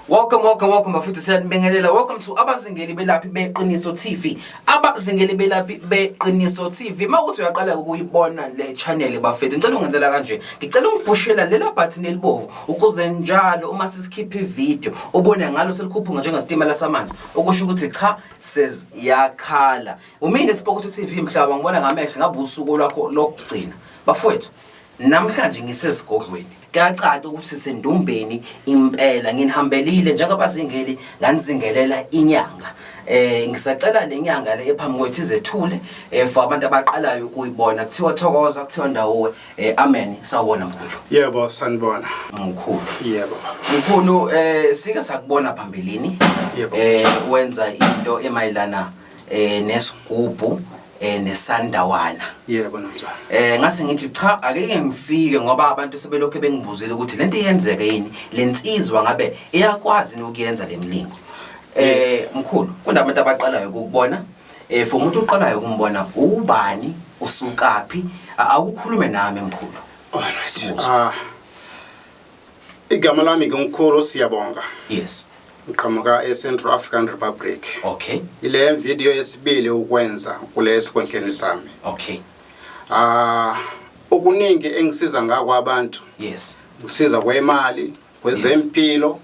Welcome, welcome, welcome bafethu siyanibingelela. Welcome to abazingeli belaphi beqiniso TV. Abazingeli belaphi beqiniso TV. Mawuthi uyaqala ukuyibona le channel bafethu. Ngicela ungenzela kanje. Ngicela ungiphushela lela button elibovu ukuze njalo uma sisikhipha ivideo ubone ngalo selikhuphuka njengesitimela samanzi. Okusho ukuthi cha says yakhala. Umini Spokothi TV mhlaba ngibona ngamehlo ngabe usuku lwakho lokugcina. Bafethu Namhlanje ngisesigodlweni. Kuyacaca ukuthi sisendumbeni impela nginihambelile njengabazingeli nganizingelela inyanga. Eh ngisacela lenyanga le ephambi kwethu izethule eh for abantu abaqalayo ukuyibona kuthiwa thokoza kuthiwa ndawo eh amen sawona mkhulu. Yebo sanibona. Mkhulu. Yebo. Mkhulu eh sike sakubona phambilini. Yebo. Eh wenza into emayelana eh nesigubhu eh nesandawana yebo nomzana eh ngase ngithi cha akeke ngifike ngoba abantu sebelokhe bengibuzile ukuthi lento iyenzeke yini lensizwa ngabe iyakwazi nokuyenza lemlingo eh mkhulu kunabantu abaqalayo ukubona eh for umuntu oqalayo ukumbona ubani usukaphi A- awukhulume nami mkhulu Alright. Ah. Igama lami ngiNkukhulu Siyabonga. Yes. Ngiqhamuka eCentral African Republic. Okay. Ile video yesibili ukwenza kule sikhundleni sami. Okay. Ah okuningi engisiza ngakho abantu. Yes. Ngisiza kwemali, kwezempilo,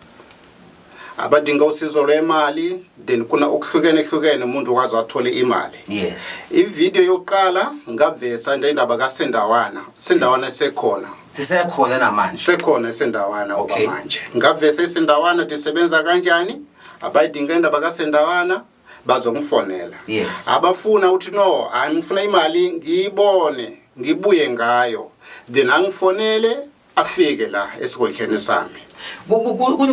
abadinga usizo lwemali then kuna okuhlukene hlukene umuntu waze wathole imali yes ivideo yokuqala ngavesa nje indaba kasendawana sendawana esekhona sisekhona namanje sekhona esendawana okay. okwamanje ngavesa isendawana disebenza kanjani abayidinga indaba kasendawana bazongifonela yes abafuna uthi no hayi ngifuna imali ngiyibone ngibuye ngayo then angifonele afike la esigodleni sami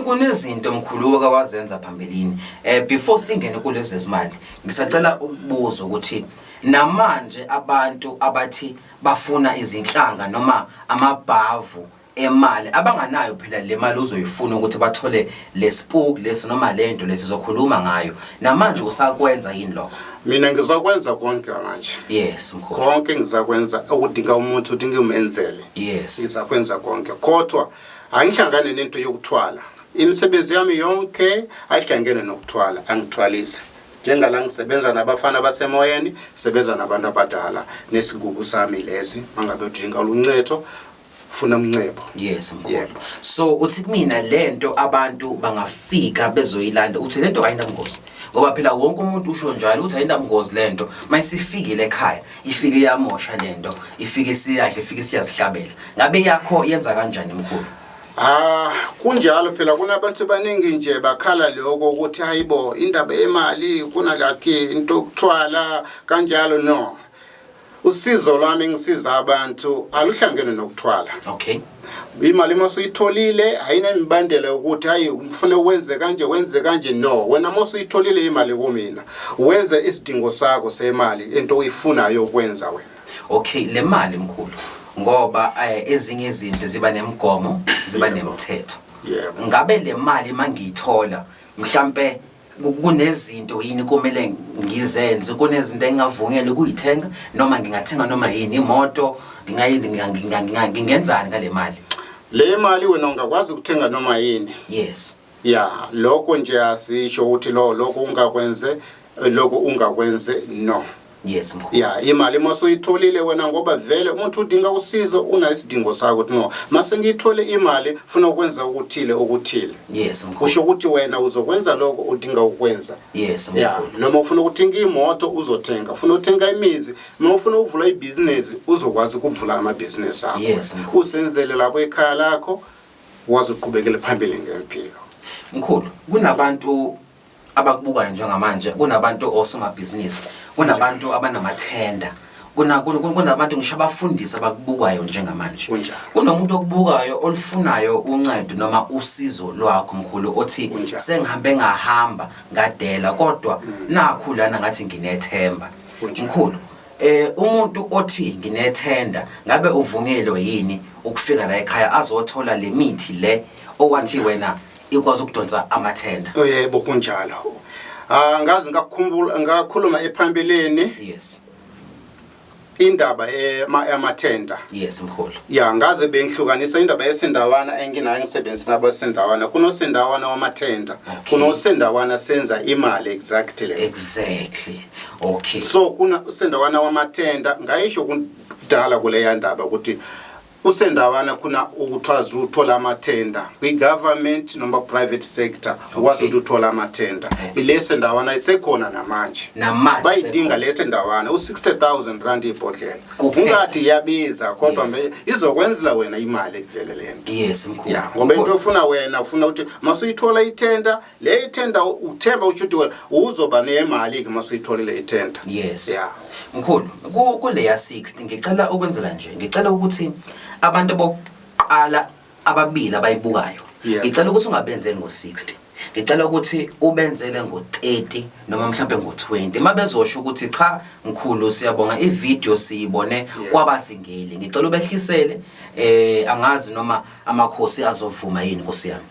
kunezinto mkhulu oke wazenza phambilini um before singene kulezi zimali ngisacela ukubuza ukuthi namanje abantu abathi bafuna izinhlanga noma amabhavu emali abanganayo phela le mali uzoyifuna ukuthi bathole lespook lesi noma lento lesi zokhuluma ngayo namanje usakwenza yini lokho mina ngizakwenza konke manje yes mkhulu konke ngizakwenza okudinga umuntu uthi ngimenzele yes ngizakwenza konke kodwa angihlangane nento yokuthwala imisebenzi yami yonke ayihlangene nokuthwala angithwalise njengala ngisebenza nabafana basemoyeni sebenza nabantu abadala nesigugu sami lesi mangabe udinga oluncetho funa umncebo yes mkhulu yep. so uthi kumina lento abantu bangafika bezoyilanda uthi lento ayinabungozi ngoba phela wonke umuntu usho njalo ukuthi ayinabungozi lento mayisefikile ekhaya ifike yamosha lento ifike siyadle ifike siyazihlabela ngabe yakho yenza kanjani mkhulu Ah kunjalo phela kunabantu baningi nje bakhala lokho ukuthi hayibo indaba yemali kunalakhe into ukuthwala kanjalo no usizo lwami ngisiza abantu aluhlangene nokuthwala okay imali uma usuyitholile ayinemibandela yokuthi hayi ngifune wenze kanje wenze kanje no wena uma usuyitholile imali kumina wenze isidingo sakho semali into oyifunayo ukwenza wena okay le mali mkhulu ngoba eh, ezinye izinto ziba nemigomo ziba nemithetho ngabe le mali mangiyithola mhlambe kunezinto yini kumele ngizenze kunezinto engingavunyelwe ukuyithenga noma ngingathenga noma yini imoto ngingenzani ngale mali le mali wena ungakwazi ukuthenga noma yini yes ya lokho nje asisho ukuthi lo lokho ungakwenze lokho ungakwenze no yes mkhulu ya imali uma suyitholile wena ngoba vele umuntu udinga usizo unayisidingo sakho ukuthi no mase ngiyithole imali funa ukwenza ukuthile okuthile yes mkhulu kusho ukuthi wena uzokwenza lokho udinga ukwenza yes mkhulu ya noma ufuna ukuthenga imoto uzothenga ufuna ukuthenga imizi noma ufuna ukuvula ibhizinesi uzokwazi ukuvula amabhizinesi akho yes mkhulu usenzele lapho ekhaya lakho wazi uqhubekele phambili ngempilo mkhulu kunabantu abakubukayo njengamanje kunabantu osomabhizinisi kunabantu abanamathenda kunabantu ngisho abafundisi abakubukayo njengamanje kunomuntu okubukayo olufunayo uncedo noma usizo lwakho mkhulu othi sengihambe ngahamba ngadela kodwa mm. nakhu lana ngathi nginethemba mkhulu eh umuntu othi nginethenda ngabe uvunyelwe yini ukufika la ekhaya azothola lemithi le owathi wena ikwazi ukudonsa amathenda oh, yebo kunjalo ah ngazi ngakukhumbula ngakhuluma ephambilini yes indaba yamathenda yes mkhulu ya ngaze bengihlukanisa indaba yesindawana enginayo ngisebenzi nabo sendawana kunosendawana wamathenda kunosendawana senza imali exactly exactly okay so kuna sendawana wamathenda ngayisho kudala kuleya ndaba ukuthi kusendawana khona ukuthiwa zuthola amathenda kwi-government noma private sector ukwazi ukuthi uthole amathenda ileso ndawana isekhona namanje bayidinga leso ndawana u-60 000 rand ibhodlela ungathi iyabiza kodwa yes. izokwenzela wena imali ekuvele le nto yes, ya ngoba into ofuna wena ufuna ukuthi masuyithola ithenda le ithenda uthemba usho ukuthi wena uzoba nemali-ke uma suyitholile ithenda yes ya mkhulu kuleya 60 ngicela ukwenzela nje ngicela ukuthi abantu bokuqala ababili abayibukayo ngicela ukuthi ungabenzeli ngo-60 ngicela ukuthi ubenzele ngo-30 noma mhlawumbe ngo-20 uma bezosho ukuthi cha mkhulu siyabonga ividiyo siyibone kwabazingeli ngicela ubehlisele um angazi noma amakhosi azovuma yini nkosi yami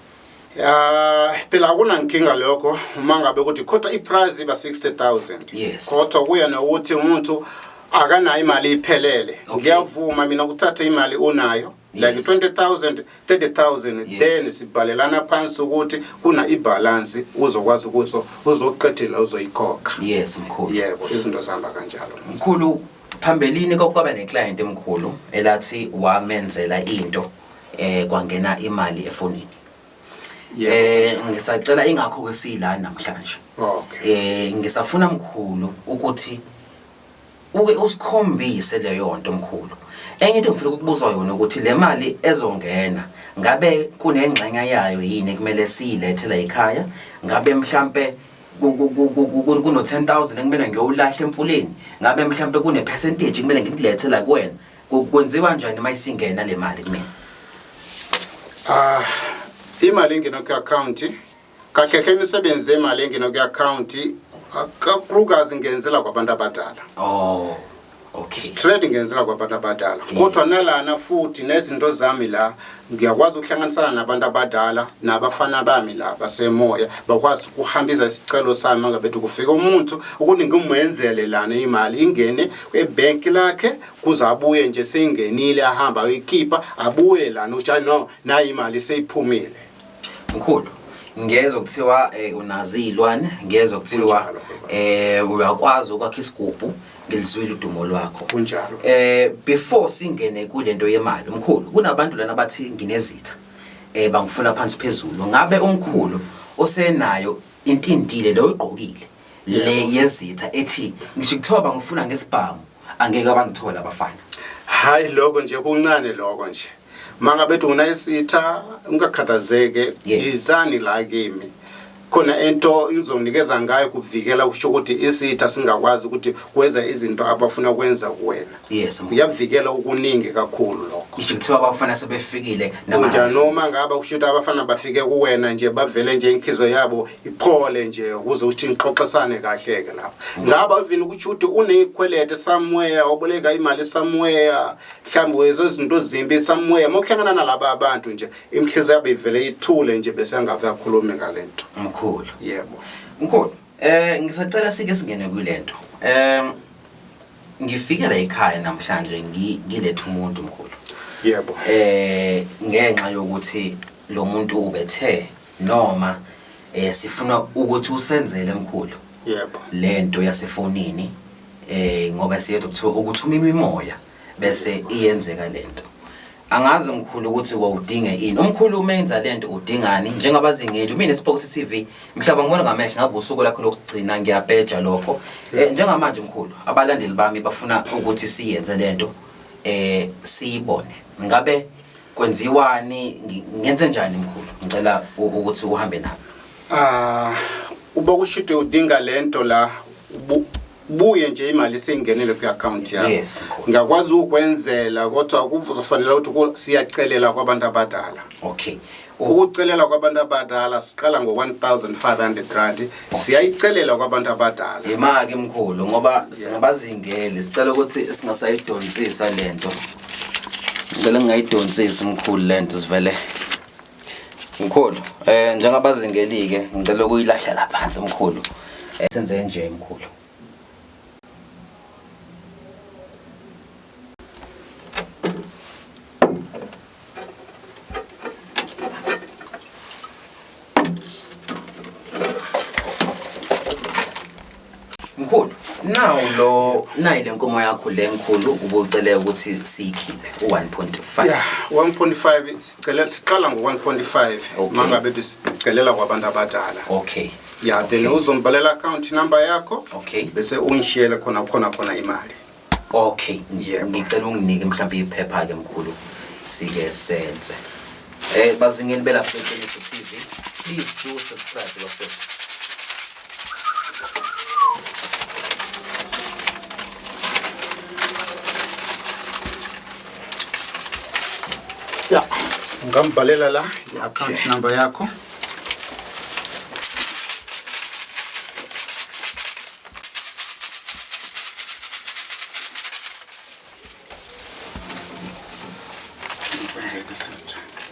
Ah phela akunankinga lokho uma ngabe ukuthi khotha iprice iba 60000 Yes. kodwa kuya nokuthi umuntu akanayo imali iphelele Okay. ngiyavuma mina ukuthatha imali unayo like Yes. 20000 30000 Yes. then sibhalelana phansi ukuthi kuna ibalance uzokwazi ukuthi uzoqedela uzoyikhokha yes mkhulu yebo izinto zihamba kanjalo mkhulu phambilini kwakwaba neclient emkhulu elathi wamenzela into eh kwangena imali efonini Yebo, eh kanjalo. ngisacela ingakho ke sila namhlanje Okay. eh ngisafuna mkhulu ukuthi uke usikhombise leyo nto mkhulu enye into ngifuna ukukubuza yona ukuthi le mali ezongena ngabe kunengxenye yayo yini kumele siyilethe la ekhaya ngabe mhlambe ku- ku- ku- ku- ku- ku- kuno 10000 ekumele ngiyowulahla emfuleni ngabe mhlambe kune percentage kumele ngikulethe la kuwena Kwenziwa njani uma isingena le mali kumina? Ah, imali engena kwi-akhawunti kahle hle imisebenzi yemali engena kwi-akhawunti kakhulukazi ngenzela kwabantu abadala. Oh. Okay. Straight ngenzela kwabantu abadala. Kodwa nalana futhi nezinto zami la ngiyakwazi ukuhlanganisana nabantu abadala nabafana bami la basemoya bakwazi ukuhambisa isicelo sami ngabe kufika umuntu ukuthi ngimwenzele lana imali ingene ebank lakhe kuze abuye nje seyingenile ahamba ayoyikhipha abuye lana utshani no nayi imali seyiphumile mkhulu ngezwe kuthiwa eh, unazi iy'lwane ngezwe kuthiwa Kunjalo, eh uyakwazi ukwakha isigubhu ngilizwile udumo lwakho Kunjalo. eh before singene kule nto yemali mkhulu kunabantu lana bathi nginezitha eh bangifuna phansi phezulu ngabe umkhulu osenayo intintile leyo oyigqokile le yezitha ethi ngisho kuthiwa bangifuna ngesibhamu angeke abangithole abafana hayi lokho nje kuncane lokho nje manga bethu ngina isitha ungakhathazeke izani la kimi khona into izonikeza ngayo kuvikela ukusho ukuthi isitha singakwazi ukuthi kwenza izinto abafuna kwenza kuwena yes kuyavikela ukuningi kakhulu lokho isho kuthiwa abafana sebefikile namanje noma ngaba kusho ukuthi abafana bafike kuwena nje bavele nje inhliziyo yabo iphole nje ukuze uthi nixoxisane kahle ke lapho mm. ngaba even ukuthi uthi unezikwelede somewhere oboleka imali somewhere mhlawumbe wezo izinto zimbi somewhere mokuhlangana nalaba abantu nje imhliziyo yabo ivele ithule nje bese angave akhulume ngalento mkhulu yebo mkhulu eh ngisacela sike singene kulento eh Ngifike la ekhaya namhlanje ngilethe umuntu mkhulu. Yebo. Eh ngenxa yokuthi lo muntu ubethe noma eh sifuna ukuthi usenzele mkhulu. Yebo. Lento yasefonini eh ngoba siyethu ukuthi uma imimoya bese iyenzeka lento. Angazi mkhulu ukuthi wawudinge ini. Umkhulu uma enza lento udingani njengabazingeli. Mina Spox TV mhlaba ngibona ngamehlo ngabe usuku lakho lokugcina ngiyapeja lokho. Eh, njengamanje mkhulu abalandeli bami bafuna ukuthi siyenze lento eh siyibone. Ngabe kwenziwani ngenze njani mkhulu? Ngicela ukuthi uhambe nami. Ah uba kushudwe udinga lento la buye nje imali seyingenele kwi-akhawunti yakho Yes, mkhulu. ngiyakwazi ukwenzela kodwa kuzofanele ukuthi ku- siyacelela kwabantu abadala okay U- ukucelela kwabantu abadala siqala ngo-1500 rand siyayicelela kwabantu abadala yima-ke mkhulu ngoba singabazingeli sicela ukuthi singasayidonsisa le nto ngicela ngingayidonsisi mkhulu le nto sivele Mkhulu, eh njengabazingelike ngicela ukuyilahlela phansi mkhulu. Eh, senze nje mkhulu. Mkhulu, nawu lo nayi lenkomo yakho lenkulu ubucele ukuthi siyikhiphe u1.5. Yeah, 1.5 sicela siqala ngo1.5 okay. mangabe sicelela kwabantu abadala. Okay. Yeah, okay. then uzombalela account number yakho. Okay. Bese ungishiyele khona khona khona imali. Okay, Yebo. ngicela unginike mhlawumbe iphepha ke mkhulu sike senze. Eh bazingeli belapha eqiniso TV, please do subscribe bafethu. ya ungambhalela la i-account Okay. number yakho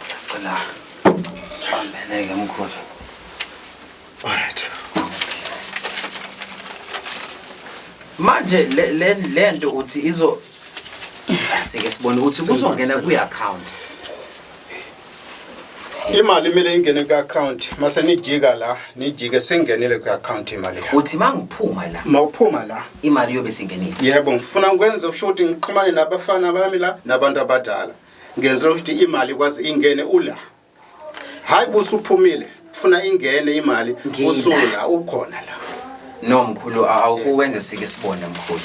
Sicela sihambeleke mkhulu. Alright. Manje le le lento uthi izo asike sibone ukuthi kuzongena kwi account. imali imele ingene kwi-akhawunti mase nijika la nijike singenile kwi-akhawunti imali yakho uthi uma ngiphuma la ma uphuma la imali yobe singenile yebo ngifuna ukwenza usho ukuthi ngixhumane nabafana bami la nabantu abadala ngenzela ukuthi imali ikwazi ingene ula hhayi busuphumile funa ingene imali Ngina. usula ukhona la no mkhulu a- awukuwenze sike sibone mkhulu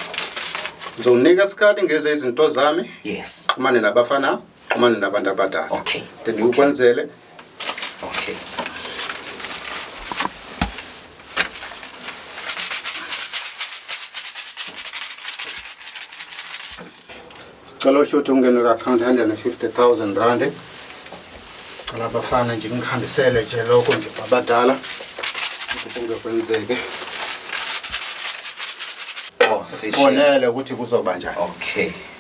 ngizonginika isikhathi ngeze izinto zami yes xhumane nabafana xhumana nabantu abadala okay then okay. ukwenzele okay cela usho ukuthi ungene ku-akhawunti 150 000 rand cela abafana nje ngihambisele nje lokho nje abadala kungekwenzeke oh, sibonele ukuthi kuzoba njani okay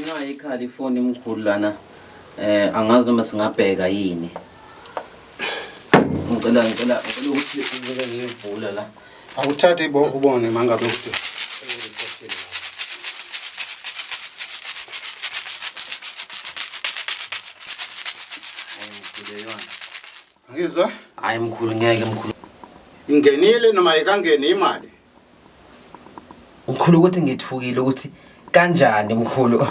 Ingayikhali ifoni mkhulu lana eh angazi noma singabheka yini ngicela ngicela ukuthi ngivule ngiyivula la Akuthathi bo ubone mangabe ukuthi Ngizwa? Hayi mkhulu ngeke mkhulu. Ingenile noma ikangeni imali? Mkhulu ukuthi ngithukile ukuthi kanjani mkhulu?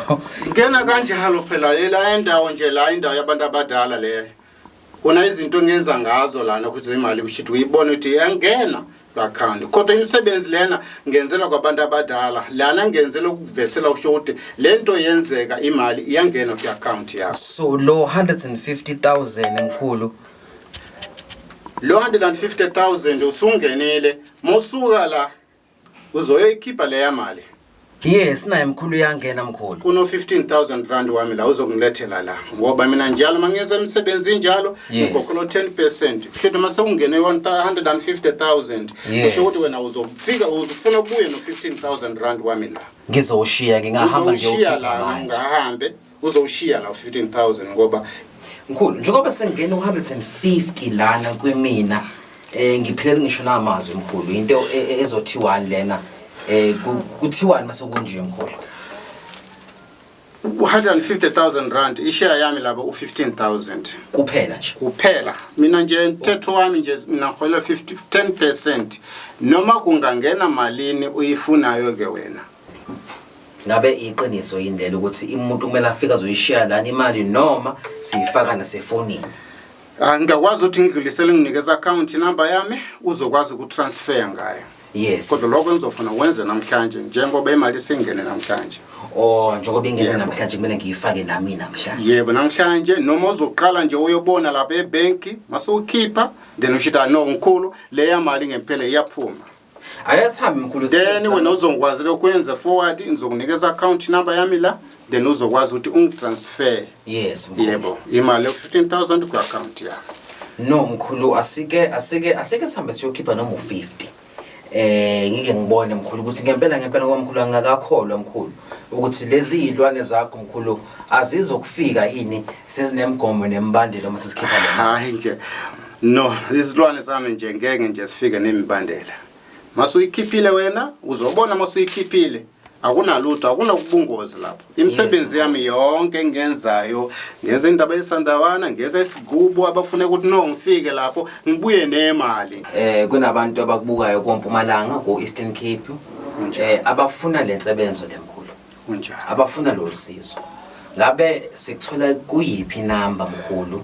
Ngena kanjalo phela yela endawo nje la indawo yabantu abadala leyo. Kona izinto ngenza ngazo lana ukuthi imali kushithi uyibona ukuthi iyangena bakhanda kodwa imisebenzi lena ngenzela kwabantu abadala lana ngenzela ukuvesela usho ukuthi le nto yenzeka imali iyangena kwi-akhawunti yakho so lo 150000 mkhulu lo 150000 usungenile mosuka la Uzoyoyikhipha leya mali. Yes naye mkhulu uyangena mkhulu. Kuno 15000 rand wami la uzongilethela la ngoba mina njalo mangenza imisebenzi njalo Yes. ngikhokhela 10%. Kusho ukuthi mase ungene 150000 Yes. kusho ukuthi wena uzofika uzofuna ukubuye no 15000 rand wami la. Ngizowushiya ngingahamba Uzowushiya ngiyowukhipha la manje. ngahambe uzowushiya la u-15000 ngoba mkhulu njengoba sengena u-150 lana kwimina um ngiphelele ngisho namazwi mkhulu into e, e, ezothiwani lena um kuthiwani uma sekunje mkhulu u-150000 rand isheya yami laba u-15000 kuphela nje kuphela mina nje mthetho wami nje mina ngihola 10 percent noma kungangena malini uyifunayo-ke wena ngabe iqiniso yini lelo ukuthi umuntu kumele afike azoyishiya lana imali noma siyifaka nasefonini angikakwazi ah, ukuthi ngidlulisele nginikeza account number yami uzokwazi ukutransfer ngayo yes kodwa lokho ngizofuna wenze namhlanje njengoba imali isingene namhlanje oh njengoba ingene namhlanje kumele ngiyifake nami namhlanje yebo namhlanje noma uzoqala nje uyobona lapha ebank mase ukhipha then ushita no ngikhulu leya mali ngempela iyaphuma Ayasihambi mkhulu then wena uzongikwazi lokwenza forward ngizokunikeza account number yami la then uzokwazi ukuthi ungitransfer yes yebo imali yo 15000 ku account yakho no mkhulu asike asike asike sihambe siyokhipha noma u50 eh ngike ngibone mkhulu ukuthi ngempela ngempela ngoba mkhulu angakakholwa mkhulu ukuthi lezi izilwane zakho mkhulu azizokufika yini sezinemgomo nembandelo uma sesikhipha le hayi nje no izilwane zami nje ngeke nje sifike nemibandela masuyikhifile wena uzobona masuyikhifile akunalutho akunokubungozi lapho imisebenzi yami yonke engiyenzayo ngenza indaba yesandawana ngenza isigubo abafune ukuthi no ngifike lapho ngibuye nemali eh kunabantu abakubukayo kompumalanga ku Eastern Cape eh abafuna lensebenzo lemkhulu kunjalo abafuna lolusizo ngabe sikuthola kuyiphi number mkhulu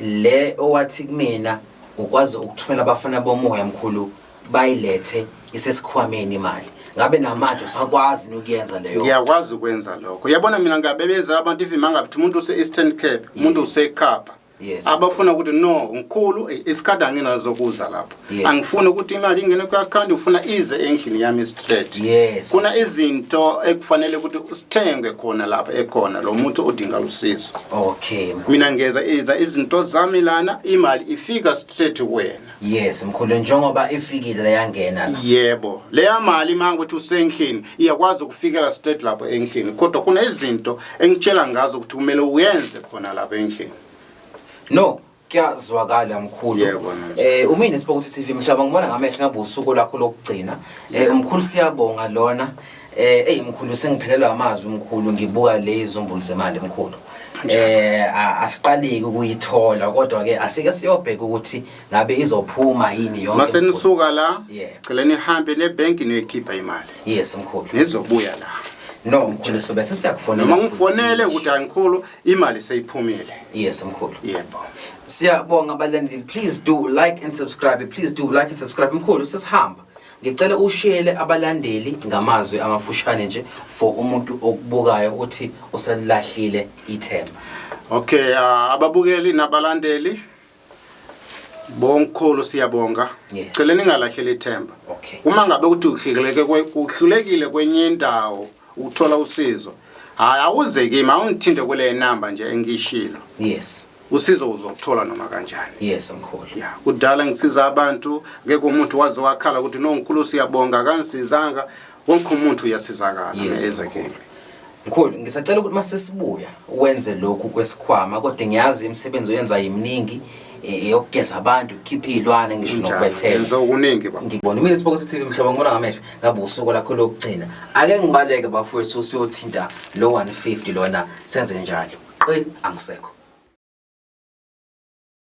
Le owathi kumina ukwazi ukuthumela abafana bomoya mkhulu bayilethe isesikhwameni imali ngabe namanje usakwazi nokuyenza leyo ngiyakwazi ukwenza lokho yabona mina ngiyabebezela abantu even mangabithi umuntu use-eastern cape umuntu usekhapha yes. abafuna ukuthi no ngikhulu isikhathi anginazokuza lapho Yes. angifuni ukuthi imali ingene kwi-akhawunti ngifuna ize endlini yami straight Yes. kuna izinto ekufanele ukuthi sithengwe khona lapha ekhona lo muntu odinga usizo okay mkhulu. mina ngeza iza izinto zami lana imali ifika straight kuwena yes mkhulu njengoba ifikile leyangena la yebo leya mali uma ukuthi usendlini iyakwazi ukufikela straight lapho endlini kodwa kunezinto engitshela ngazo ukuthi kumele uyenze khona lapho endlini no kuyazwakala mkhulu Yebo, manje. eh umini Sport TV mhlaba ngibona ngamehlo ngabe usuku lakho lokugcina eh umkhulu siyabonga lona eh ey mkhulu sengiphelelwa amazwi mkhulu ngibuka le izumbulu zemali mkhulu eh a- asiqaleki ukuyithola kodwa ke asike siyobheka ukuthi ngabe izophuma yini yonke mase mkhulu. nisuka la Yeah. cela nihambe nebhenki niyoyikhipha imali yes mkhulu nizobuya la no mkhulu sobe sesiyakufonela noma ngifonele ukuthi angikhulu Imali seyiphumile. Yes mkhulu. Yebo. Siyabonga abalandeli please do like and subscribe please do like and subscribe mkhulu sesihamba. Ngicela ushiyele abalandeli ngamazwi amafushane nje for umuntu okubukayo ukuthi usalilahlile ithemba. Okay, uh, ababukeli nabalandeli Bonkhulu siyabonga. Yes. Cela ningalahleli ithemba. Okay. Uma ngabe ukuthi uhluleke kuhlulekile kwenye indawo ukuthola usizo. Hayi awuze kimi awungithinte kule number nje engishilo. Yes. usizo uzokuthola noma kanjani yes mkhulu ya kudala ngisiza abantu ngeke umuntu waze wakhala ukuthi no mkhulu siyabonga kansizanga wonke umuntu uyasizakala Yes, eze mkhulu. kimi mkhulu ngisacela ukuthi masesibuya wenze lokhu kwesikhwama kodwa ngiyazi imisebenzi oyenza yiminingi eh, eyokugeza abantu ukukhipha iy'lwane ngisho Kunjalo. nokubethela Yenza okuningi baba. ngibona imini sibokuse tv mhlobo ngibona ngamehlo ngabe usuku lakho lokugcina ake ngibaleke bafowethu usuyothinta lo 150 lona senze njalo qi angisekho